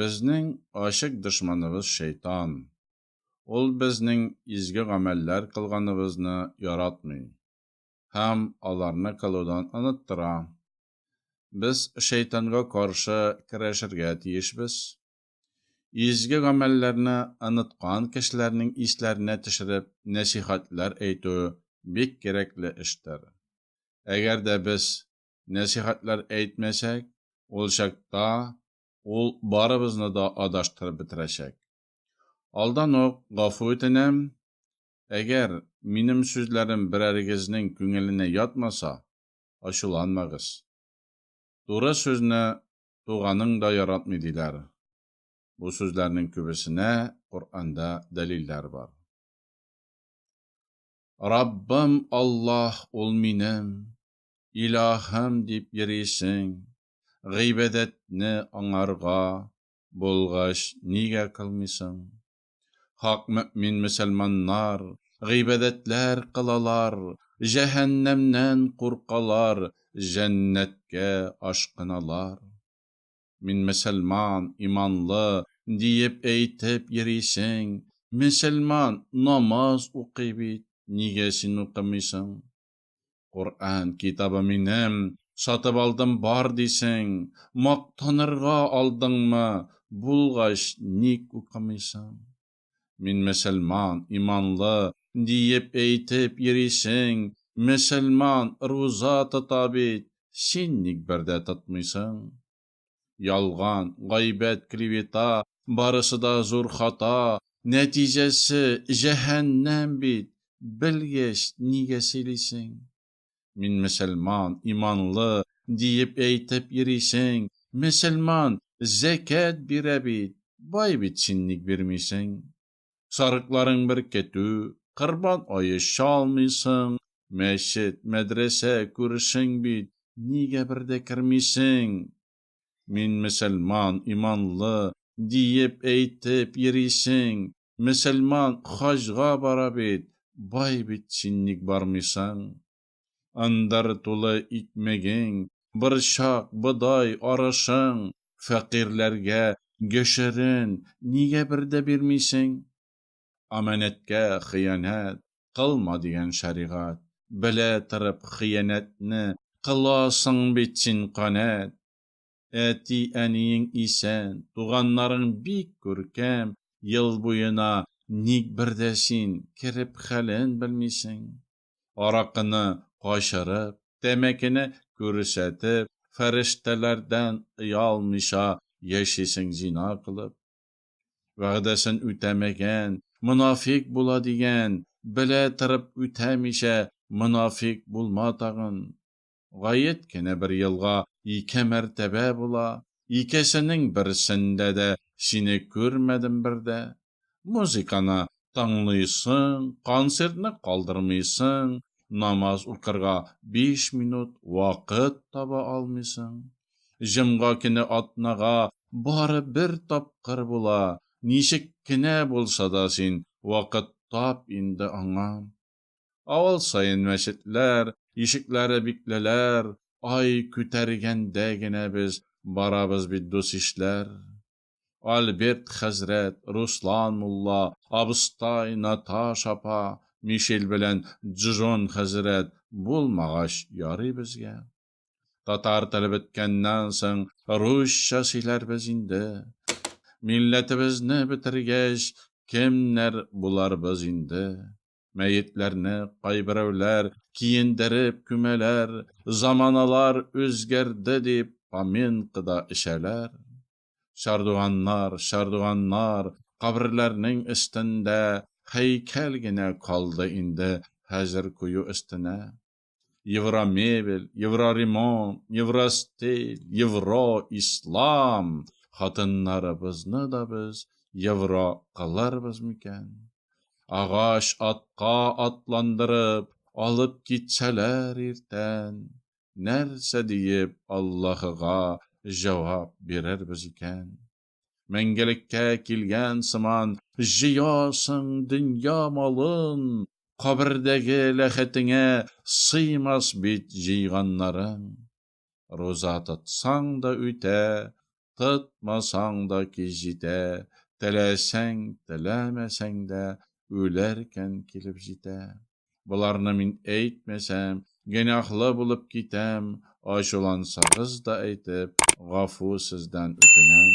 Безнең ачык дошманыбыз шәйтан. Ул безнең изге гамәлләр кылганыбызны яратмый һәм аларны кылудан оныттыра. Без шәйтанга каршы көрәшергә тиешбез. Изге гамәлләрне оныткан кешеләрнең исләренә төшереп нәсыйхәтләр әйтү бик кирәкле эштер. Әгәр дә без нәсыйхәтләр әйтмәсәк, ул чакта ул барыбызны да адаштырып бетерәчәк. Алдан ук гафу үтенәм, әгәр минем сүзләрем берәрегезнең күңеленә ятмаса, ачуланмагыз. Туры сүзне туганың да яратмый диләр. Бу сүзләрнең күбесенә Коръәндә дәлилләр бар. Раббым Аллаһ ул минем, Илаһым дип йөрисең, гыйбадәтне аңарга булгач нигә кылмыйсың? Хак мөэмин мөселманнар гыйбадәтләр кылалар, җәһәннәмнән куркалар, җәннәткә ашкыналар. Мин мөселман, иманлы, диеп әйтеп йөрисең, мөселман намаз укый бит, нигә син укымыйсың? Коръән китабы минем, сатып алдым бар дисең, мактанырга алдыңмы, булгач ник укымыйсың? Мин мөселман, иманлы, диеп әйтеп йөрисең, мөселман руза тота бит, син ник бер дә тотмыйсың? Ялган, гайбәт, клевета, барысы да зур хата, нәтиҗәсе, җәһәннәм бит, белгәч, нигә сөйлисең? Мин мөселман, иманлы, диеп әйтеп йөрисең, мөселман, зәкят бирә бит, бай бит, син ник бирмисең? Сарыкларың беркетү, Корбан ае чалмыйсың, мәчет, мәдрәсә күршең бит, нигә бер дә кермисең? Мин мөселман, иманлы, диеп әйтеп йөрисең, мөселман хаҗга бара бит, бай бит, син ник бармыйсың? Ындыр тулы икмәгең, борчак, бодай, арышың, фәкыйрьләргә гөшерен нигә бер дә бирмисең? Аманәткә хыянәт кылма дигән шәригать, белә торып хыянәтне кыласың бит син, канәт! Әти-әниең исән, туганнарың бик күркәм, ел буена ник бер дә син кереп хәлен белмисең? Аракыны качырып, тәмәкене күрсәтеп, фәрештәләрдән оялмыйча яшисең зина кылып. Вәгъдәсен үтәмәгән, монафикъ була дигән, белә торып үтәмичә монафикъ булма тагын. Гаять кенә бер елга ике мәртәбә була, икесенең берсендә дә сине күрмәдем бер дә. Музыканы тыңлыйсың, концертны калдырмыйсың, намаз укырга биш минут вакыт таба алмыйсың. Җомга көне атнага бары бер тапкыр була, ничек кенә булса да син вакыт тап инде аңа. Авыл саен мәчетләр ишекләре бикләләр, Ай күтәргәндә генә без барабыз бит дус-ишләр. Альберт хәзрәт, Руслан мулла, абыстай, Наташ апа, Мишель белән Джон хәзрәт Булмагач ярый безгә. Татар теле беткәннән соң, русча сөйләрбез инде. Милләтебезне бетергәч, кемнәр буларбыз инде? Мәетләрне кайберәүләр киендереп күмәләр, заманалар үзгәрде дип, поминкада эчәләр. Чардуганнар, чардуганнар, каберләрнең өстендә һәйкәл генә калды инде хәзер кую өстенә. Евромебель, Евроремонт, Евростиль, Евро, Ислам хатыннарыбызны да без евро кыларбыз микән? Агач атка атландырып, алып китсәләр иртән, нәрсә диеп Аллаһыга җавап бирербез икән? Мәңгелеккә килгән сыман, җыясың дөнья малын, кабердәге ләхетеңә сыймас бит җыйганнарың. Руза тотсаң да үтә, тотмасаң да кич җитә, теләсәң, теләмәсәң дә, үләркән килеп җитә. Боларны мин әйтмәсәм, гөнаһлы булып китәм, ачулансагыз да әйтеп, гафу сездән үтенәм.